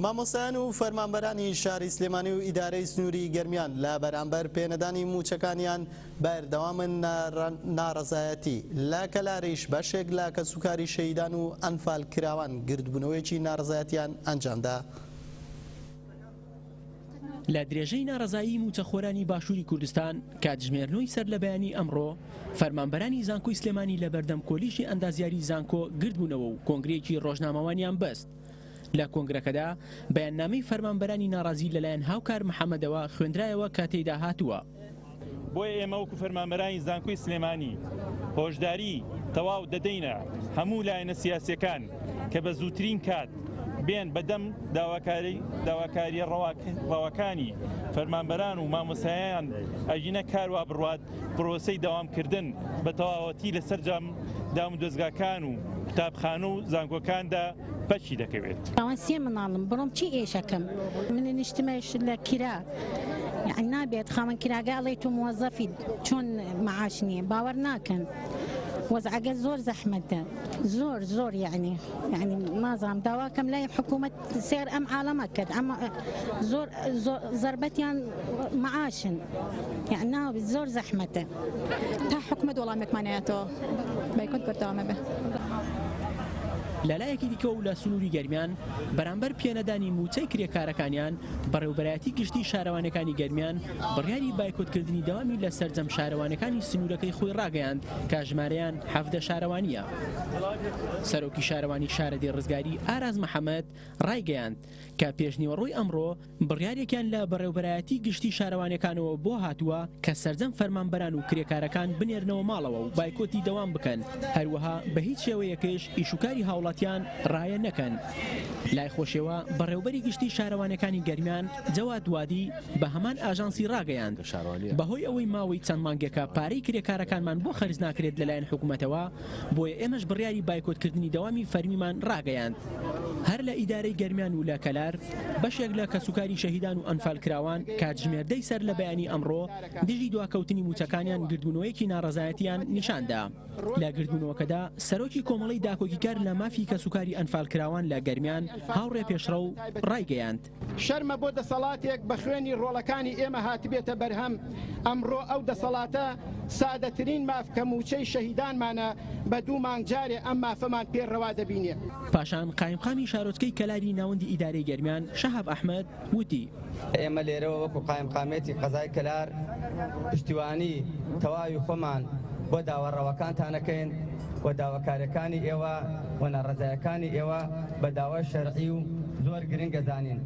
مامۆستایان و فەرمانبەرانی شاری سلێمانی و ئیدارەی سنووری گەرمیان لە بەرامبەر پێنەدانی مووچەکانیان بەردەوامن ناڕەزایەتی، لە کەلاریش بەشێک لە کەسوکاری شەهیدان و ئەنفالکراوان گردبوونەوەیەکی ناڕەزایەتیان ئەنجامدا. لە درێژەی ناڕەزایی مووچەخۆرانی باشووری کوردستان، کاتژمێرنۆی سەرلەبەیانیی ئەمڕۆ، فەرمانبەرانی زانکۆی سلێمانی لەبەردەم کۆلیژی ئەندازیاریی زانکۆ گردبوونەوە و کۆنگرەیەکی رۆژنامەوانیان بەست. لە کۆنگرەکەدا بەیاننامەی فەرمانبەرانی ناڕازی لەلایەن هاوکار محەمەدەوە خوێندرایەوە کە تێیدا هاتووە، بۆیە ئێمە وەکو فەرمانبەرانی زانکۆی سلێمانی هۆشداری تەواو دەدەینە هەموو لایەنە سیاسەکان کە بە زووترین کات بێن بەدەم داواکاری داواکاریە ڕەواکانی فەرمانبەران و مامۆسایان ئەژینە کاروا بڕات پرۆسی داوامکردن بە تەواوەتی لە سەررجام دام و دەستگاکان و قوتابخانە و زانکۆکاندا بەچی دەکەوێت؟ ئەوان سێ مناڵم بڕۆم چی ئێشەکەم منە نیشتمەش لە کرا نابێت خاوەن کراگە ئەڵێ تو موەزەفی چۆن معاش نییە باوەڕ ناکەن وەزعگە زۆر زەحمەتە زۆر زۆر یعنی یعنی نازام داواکەم لای حکوومەت سێر ئەم عاالەمە کرد ئەمە زۆر زربەتیان معاشن یعناوی زۆر زەحمەتە تا حکومەت وەڵامێکمان نەیاتەوە بایکۆت بەردەوامەبێ. لەلایەکی دیکەوە و لە سنووری گەرمیان، بەرامبەر پێنەدانی مووچەی کرێکارەکانیان، بەڕێوبەرایەتی گشتی شارەوانیەکانی گەرمیان بڕیاری بایکۆتکردنی دەوامی لە سەرجەم شارەوانیەکانی سنوورەکەی خۆی ڕاگەیاند کە ژمارەیان حەڤدە شارەوانییە. سەرۆکی شارەوانی شارەدێی ڕزگاری، ئاراس محەمەد، ڕایگەیاند، کە پێشنیوەڕۆی ئەمڕۆ بڕیارێکیان لە بەڕێوبەرایەتی گشتی شارەوانیەکانەوە بۆ هاتووە کە سەرجەم فەرمانبەران و کرێکارەکان بنێرنەوە ماڵەوە و بایکۆتی دەوام بکەن هەروەها بە هیچ شێوەیەکش ئیش و کاری هاوڵاتیان ڕایە نەکەن لای خۆشێوە بەڕێوبەری گشتی شارەوانیەکانی گەرمیان جەواد وادی بە هەمان ئاژانسی ڕاگەیاند بەهۆی ئەوەی ماوەی چەند مانگێکە پارەی کرێکارەکانمان بۆ خەرج ناکرێت لەلایەن حکومەتەوە بۆیە ئێمەش بڕیاری بایکۆتکردنی دەوامی فەرمیمان راگەیاند هەر لە ئیدارەی گەرمیان و لە کەلار بەشێک لە کەسوکاری شەهیدان و ئەنفالکراوان کاتژمێر دەی سەر لە بەیانی ئەمڕۆ دژی دواکەوتنی موچەکانیان گردبونەوەیەکی ناڕەزایەتیان نیشاندا لە گردبونەوەکەدا سەرۆکی کۆمەڵەی داکۆکیکار لە مافی کەسوکاری ئەنفالکراوان لە گەرمیان هاوڕێ پێشڕەو رایگەیاند شەرمە بۆ دەسەڵاتێک بە خوێنی ڕۆڵەکانی ئێمە هاتبێتە بەرهەم، ئەمڕۆ ئەو دەسەڵاتە سادەترین ماف کە مووچەی شەهیدانمانە بە دوو مانگ جارێ ئەم مافەمان پێ ڕەوا دەبینێ. پاشان قایمقامی شارۆچکەی کەلاری ناوەندی ئیدارەی گەرمیان شەهاب ئەحمەد وتی، ئێمە لێرەوە وەکو قایمقامیەتی قەزای کەلار پشتیوانی تەواوی خۆمان بۆ داوا ڕەواکانتان ئەکەین، و داواکاریەکانی ئێوە و ناڕەزایەکانی ئێوە بە داوای شەرعی و زۆر گرنگ ئەزانین.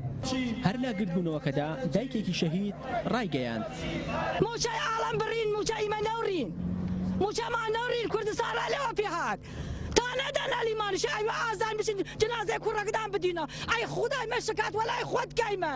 هەر لە گردبوونەوەکەدا دایکێکی شەهید ڕایگەیاند، مووچەی ئاڵم بڕین مووچە ئیمە نەوڕین مووچەمان نەوڕین کوردستان ڕێ لێوە پێهات تا نەدەن ئەلیمانیش ئەیوە ئازان بچین جنازەی کوڕەکدان بدینە ئەی خودای مەشکات وەلای خۆت کەیمە.